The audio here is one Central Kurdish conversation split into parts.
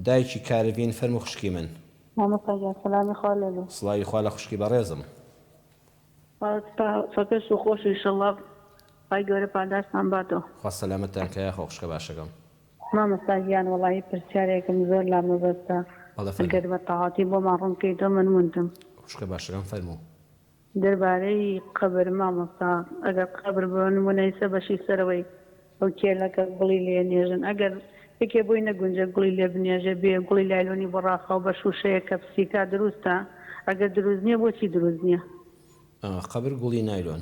دایکی کارڤین فەرمو خوشکی من. مامۆستا گیان سەلامی خوا لێبێ. سڵاوی خوا لە خوشکی بەڕێزم. خوا سپا سەکەش و خۆش ئیشەڵا خوای گەورە پاداشتان باتەوە. خوا سەلامەتتان کا یاخوا خوشکە باشەکەم. مامۆستا گیان وەڵاهی پرسیارێکم زۆر لا مەبەستە بەڵێ فەرموو. ئەگەر بەتەواتی بۆمان ڕوون بکەیتەوە مەنوونتم. خوشکە باشەکەم فەرموو. دەربارەی قەبر مامۆستا ئەگەر قەبر بۆ نمونەی سەر بەشی سەرەوەی ئەو کێلەکە گوڵی لێ نێژن ئەگەر یەکێ بۆی نەگونجێ گوڵی لێ بنێژێ بێ گوڵی لایلۆنی بۆ ڕاخاو بە شوشەیەک کە پسی کا دروستە ئەگەر دروست نیە بۆچی دروست نیە. قەبر گوڵی نایلۆن.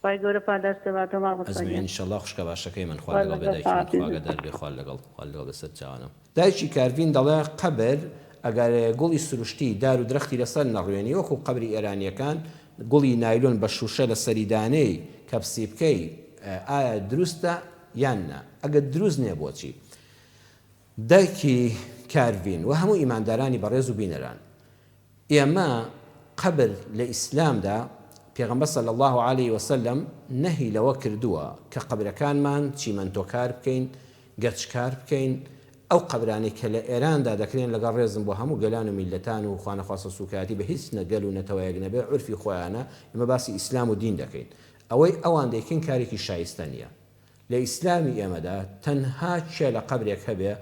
خوای گەورە پاداشتت باتەوە مامۆستا ئەزمەیە گیان. انشاللە خوشکە باشەکەی من خوا لەگەڵ بێ دایکی من خوا ئاگادار بێ خوا لەگەڵ خوا لەگەڵ بێ سەر چاوانم. دایکی کارڤین دەڵێ قەبر ئەگەر گوڵی سروشتی دار و درەختی لەسەر نەڕوێنی وەکو قەبری ئێرانیەکان گوڵی نایلۆن بە شوشە لەسەری دانێی کەپسی بکەی ئایا دروستە یان نا ئەگەر دروست نیە بۆچی دایکی کارڤین وە هەموو ئیماندارانی بەڕێز و بینەران ئێمە قەبر لە ئیسلامدا پێغەمبەر صلی اللە علیە و سلم نەهی لەوە کردووە کە قەبرەکانمان چیمەنتۆکار بکەین، گەچکار بکەین، ئەو قەبرانەی کە لە ئێراندا دەکرێن لەگەڵ ڕێزم بۆ هەموو گەلان و میللەتان و خوانەخواستە سووکایەتی بە هیچ نە گەل و نەتەوەیەک نەبێ عورفی خۆیانە، ئێمە باسی ئیسلام و دین دەکەین ئەوەی ئەوان دەیکەین کارێکی شایستە نییە لە ئیسلامی ئێمەدا تەنها کێ لە قەبرێک هەبێ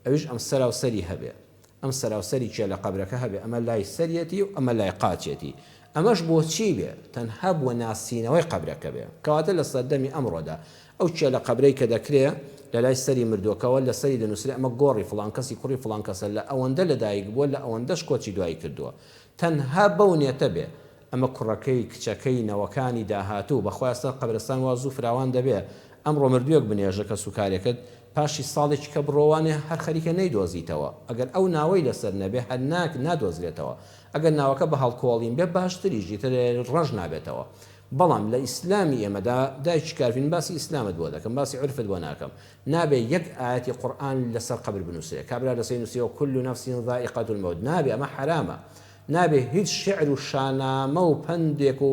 ئەویش ئەم سەراو سەری هەبێ ئەم سەراو سەری کێ لە قەبرەکە هەبێ ئەمە لای سەریەتی و ئەمە لای قاچێتی ئەمەش بۆچی بێ تەنها بۆ ناسینەوەی قەبرەکە بێ کەواتە لە سەردەمی ئەمڕۆدا ئەو کێ لە قەبرەی کە دەکرێ لە لای سەری مردوەکەوە لە سەری دەنوسرێ ئەمە گۆڕی فڵان کەسی کوڕی فڵان کەسە لە ئەوەندە لە دایک بوە لە ئەوەندەش کۆچی دوایی کردوە تەنها بەو نێتە بێ ئەمە کوڕەکەی، کچەکەی، نەوەکانی، داهاتوو، بەخوای ئەستەر قەبرستان وا زوو فراوان دەبێ، ئەمڕۆ مردووێک بنێژە کەس و کارێکت پاشی ساڵێکی کە بڕۆ وانێ هەر خەریکە نەیدۆزیتەوە، ئەگەر ئەو ناوەی لەسەر نەبێ هەر ناک نادۆزرێتەوە، ئەگەر ناوەکە بە هەڵکۆڵین بێ باشتریش ئیتر ڕەش نابێتەوە، بەڵام لە ئیسلامی ئێمەدا دایکی کارڤین باسی ئیسلامت بۆ دەکەم باسی عورفت بۆ ناکەم نابێ یەک ئایەتی قورئان لەسەر قەبر بنووسرێ کابرا لەسەی نووسیوە کل نفس ذائقە الموت نابێ ئەمە حەرامە نابێ هیچ شیعر و شانامە و پەندێک و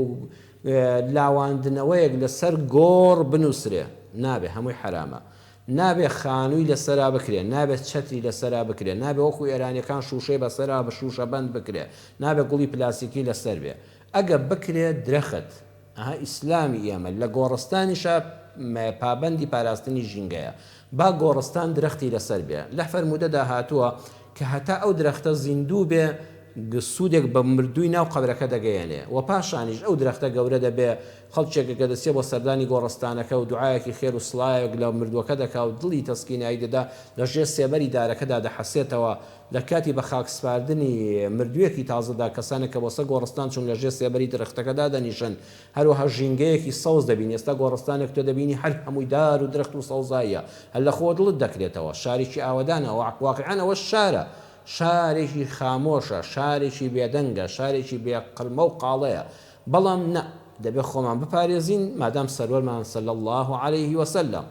لاواندنەوەیەک لە سەر گۆڕ بنووسرێ، نابێ، هەمووی حەرامە. نابێ خانووی لە سەرا بکرێ، نابێ چەتری لە سەرا بکرێ، نابێ وەکوو ئێرانییەکان شووشەی بە سەرا شووشەبەند بکرێ، نابێ گوڵی پلاستیکی لە سەر بێ. ئەگە بکرێ درەخت، ئەها ئیسلامی ئێمە لە گۆڕستانیشا پابەندی پاراستنی ژینگەیە با گۆڕستان درەختی لەسەر بێ لە فەرموودەدا هاتووە کە هەتا ئەو درەختە زیندوو بێ سوودێک بە مردووی ناو قەبرەکە دەگەیەنێ و پاشانیش ئەو درەختە گەورە دەبێ خەڵکێک کە دەچێ بۆ سەردانی گۆڕستانەکە و دوعایەکی خێر و سڵاوێک لە مردووەکە دەکا و دڵی تەسکینایی دەدا لە ژێر سێبەری دارەکەدا دەحەسێتەوە لە کاتی بە خاک سپاردنی مردوویەکی تازەدا، کەسانێک کە بۆ سەر گۆڕستان چوون لە ژێر سێبەری درەختەکە دادەنیشن، هەروەها ژینگەیەکی سەوز دەبینی، ئێستا گۆڕستانێک تۆ دەبینی هەر هەمووی دار و درەخت و سەوزاییە، هەر لە خۆوە دڵت دەکرێتەوە، شارێکی ئاوەدانە، واقیعەن ئەوە شارە، شارێکی خامۆشە، شارێکی بێدەنگە، شارێکی بێ قرمە و قاڵەیە، بەڵام نا، دەبێت خۆمان بپارێزین، مادام سەروەرمان، صلی اللە علیە وسلم،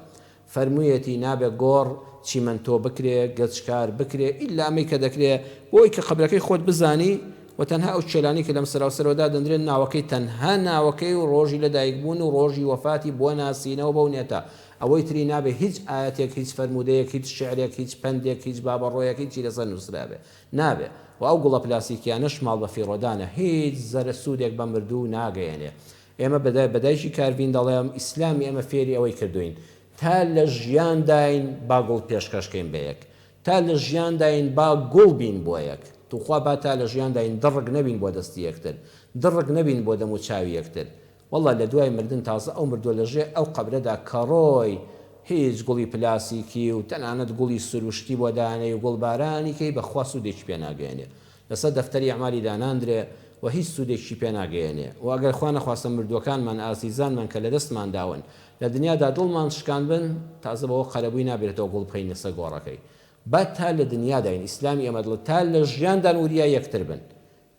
فەرموویەتی نابێ گۆڕ، چیمەنتۆ، بکرێ، گەچکار، بکرێ، ئیلا ئەمەی کە دەکرێ، بۆ ئەوەی کە قەبرەکەی خۆت بزانی و تەنها ئەو چێلانەی کە لەم سەراو سەرەوە دادەندرێن ناوەکەی تەنها ناوەکەی و ڕۆژی لە دایک بوون و ڕۆژی وەفاتی بوەناسینەوە بەو نێتە، ئەوەی تری نابێ هیچ ئایەتێک هیچ فەرموودەیەک هیچ شیعرێک هیچ پەندێک هیچ بابەڕۆیەک هیچی لەسەر نووسرابێ نابێ و ئەو گوڵە پلاستیکیانەش ماڵ بەفیڕۆدانە هیچ زەرەسوودێک بە مردوو ناگەیەنێ ئێمە بە دای بە دایکی کارڤین دەڵێم ئیسلامی ئێمە فێری ئەوەی کردووین تا لە ژیان داین با گوڵ پێشکەش کەین بە یەک تا لە ژیان داین با گوڵ بین بۆ یەک توخوا با تا لە ژیان داین دڕک نەبین بۆ دەستی یەکتر دڕک نەبین بۆ دەم و چاوی یەکتر وەڵا لە دوای مردن تازە ئەو مردووە لە ژێ ئەو قەبرەدا کەڕۆی هیچ گوڵی پلاسیکی و تەنانەت گوڵی سروشتی بۆ دانێی و گوڵبارانی کەی بەخوا سوودێکی پێ ناگەیەنێ لەسەر دەفتەری ئەعمالی داناندرێ و هیچ سوودێکیشی پێ ناگەیەنێ و ئەگەر خوا نەخواستە مردووەکانمان، ئازیزانمان کە لە دەستمان داون، لە دنیادا دڵمان شکاندبن، تازە بەوە قەرەبووی نابێتەوە گوڵ بکەینە سەر گۆڕەکەی. با تا لە دنیاداین، ئیسلامی ئێمە دڵە، تا لە ژیاندان وریا یەکتر بن.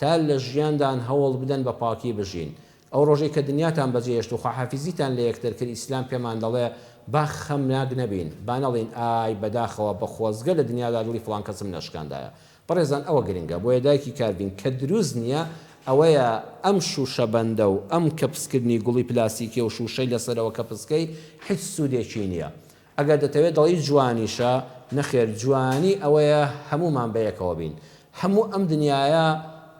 تا لە ژیاندان هەوڵ بدەن بە پاکی بژین. ئەو ڕۆژەی کە دنیاتان بەجێ هێشت و خواحافیزیتان لە یەکتر کرد، ئیسلام پێمان دەڵێ، با خەمناک نەبین، با نەڵێین، ئای، بەداخەوە، بە خۆزگە لە دنیادا دڵی فڵان کەسم نەشکاندایە. بەڕێزان ئەوە گرنگە بۆیە دایکی کاربین کە دروست نییە ئەوەیە ئەم شوشە بەندە و ئەم کەپس کردنی گوڵی پلاستیکی و شوشەی لەسەرەوە کەپسکەی هیچ سودێکی نییە ئەگەر دەتەوێت دەڵێی جوانیشە نەخێر جوانی ئەوەیە هەموومان بەیەکەوە بین هەموو ئەم دنیایە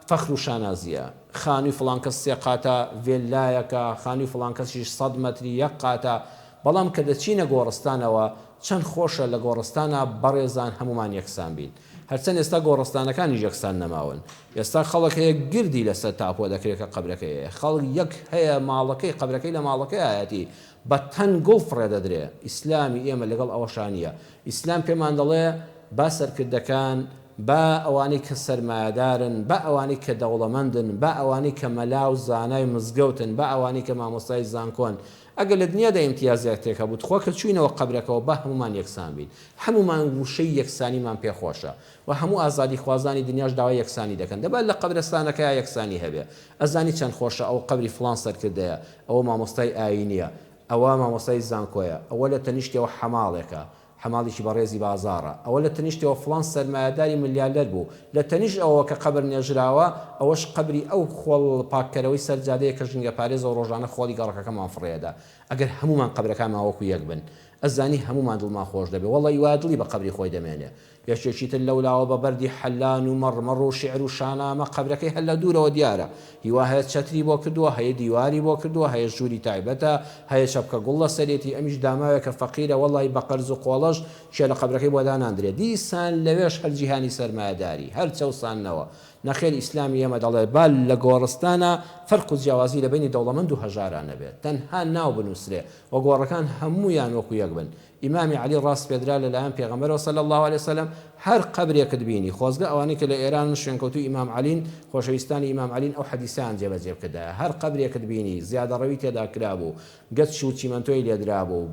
فەخر و شانازییە خانووی فڵان کەس سێ قاتە ڤێللایەکە خانووی فڵان کەسیش سەد مەتری یەک قاتە بەڵام کە دەچینە گۆڕستانەوە چەند خۆشە لە گۆڕستانا بەڕێزان هەموومان یەکسان بین. هەرچەند ئێستا گۆڕستانەکانیش یەکسان نەماون. ئێستا خەڵک هەیە گردی لەسەر تاپۆ دەکرێت کە قەبرەکەی هەیە. خەڵک یەک هەیە ماڵەکەی قەبرەکەی لە ماڵەکەیایەتی بە تەن گوڵ فڕێ دەدرێ. ئیسلامی ئێمە لەگەڵ ئەوەشا نییە. ئیسلام پێمان دەڵێ با سەرکردەکان، با ئەوانەی کە سەرمایەدارن، با ئەوانەی کە دەوڵەمەندن، با ئەوانەی کە مەلا و زانای مزگەوتن، با ئەوانەی کە مامۆستای زانکۆن، ئەگەر لە دنیادا ئیمتیازێکتێک هەبوو تخوا کە چووینەوە قەبرەکەوە با هەموومان یەکسان بین هەموومان ووشەی یەکسانیمان پێ خۆشە وە هەموو ئازادی خوازانی دنیاش داوای یەکسانی دەکەن دەبا لە قەبرەستانەکەیا یەکسانی هەبێ ئەزانی چەند خۆشە ئەوە قەبری فڵان سەرکردەیە ئەوە مامۆستای ئاینیە ئەوە مامۆستای زانکۆیە ئەوە لە تەنیشتیەوە حەماڵێکە حەماڵیکی بەڕێزی بازاڕە. ئەوە لە تەنیشتەوە فڵان سەرمایەداری ملیاردەر بوو. لە تەنیشت ئەوەوە کە قەبر نێژراوە، ئەوەش قەبری ئەو خۆڵ پاککەرەوەی سەر جادەیە کە ژینگەپارێزە و ڕۆژانە خۆڵی گەڕەکەکەمان فڕێدا. ئەگەر هەموومان قەبرەکانمان وەکو یەک بن، ئەزانی هەموومان دڵمان خۆش دەبێ. وەڵڵە ی وایە دڵی بە قەبری خۆی دەمێنێ. یەکێکی تر لەولاوە بە بەردی حەلان و مەڕمەڕ و شیعر و شانامە قەبرەکەی هەر لە دوورەوە دیارە. هیوا هەیە چەتری بۆ کردووە هەیە دیواری بۆ کردووە هەیە ژووری تایبەتە هەیە چەپکە گوڵ لەسەرێتی ئەمیش داماوێکە فەقیرە وەڵای بە قەرز و قۆڵەش کێ لە قەبرەکەی بۆ داناندرێ دیسان لەوێش هەر جیهانی سەرمایەداری هەر چەوساندنەوە نەخێر ئیسلامی ئێمە دەڵێ با لە گۆڕستانا فەرق و جیاوازی لە بەینی دەوڵەمەند و هەژارا نەبێ تەنها ناو بنووسرێ و گۆڕەکان هەموویان وەکو یەک بن ئیمامی عەلی ڕاسپێردرا لە لایەن پێغەمبەرەوە صلی اللە علیە وسلم، هەر قەبرێکت بینی، خۆزگە ئەوانەی کە لە ئێرانن شوێنکەوتووی ئیمام عەلین، خۆشەویستانی ئیمام عەلین ئەو حەدیسەیان جێبەجێ بکردایە، هەر قەبرێکت بینی، زیادەڕەوی تێدا کرابوو، گچ و چیمەنتۆی لێ درابوو،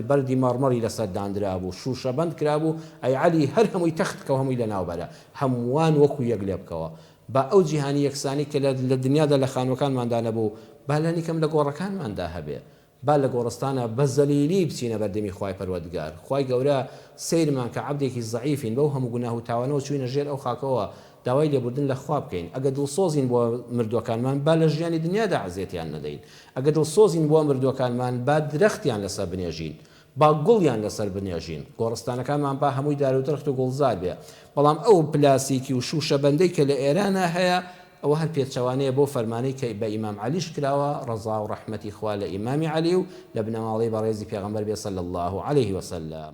بەردی مەڕمەڕی لەسەر داندرابوو، شووشەبەند کرابوو، ئەی عەلی هەر هەمووی تەخت بکە و هەمووی لەناوبەرە، هەمووان وەکوو یەک لێ بکەوە، با ئەو جیهانی یەکسانی کە لە دنیادا لە خانووەکانماندا نەبوو، با لانیکەم لە گۆڕەکانماندا هەبێ، با لە گۆڕستانە بە زەلیلی بچینە بەردەمی خوای پەروەردگار خوای گەورە سەیرمان کە عەبدێکی زەعیفین بەو هەموو گوناه و تاوانەوە چووینە ژێر ئەو خاکەوە داوای لێبوردن لە خوا بکەین ئەگە دڵسۆزین بۆ مردووەکانمان با لە ژیانی دنیادا ئەزیەتیان نەدەین ئەگە دڵسۆزین بۆ مردووەکانمان با درەختیان لەسەر بنێژین با گوڵیان لەسەر بنێژین، گۆڕستانەکانمان با هەمووی دار و درەخت و گوڵزار بێ، بەڵام ئەو پلاسیکی و شووشەبەندەی کە لە ئێرانا هەیە، ئەوە هەر پێچەوانەیە بەو فەرمانەی کە بە ئیمام عەلیش کراوە، ڕەزا و ڕەحمەتی خوا لە ئیمامی عەلی و لە بنەماڵەی بەڕێزی پێغەمبەر بێ صلی اللە علیه وسلم.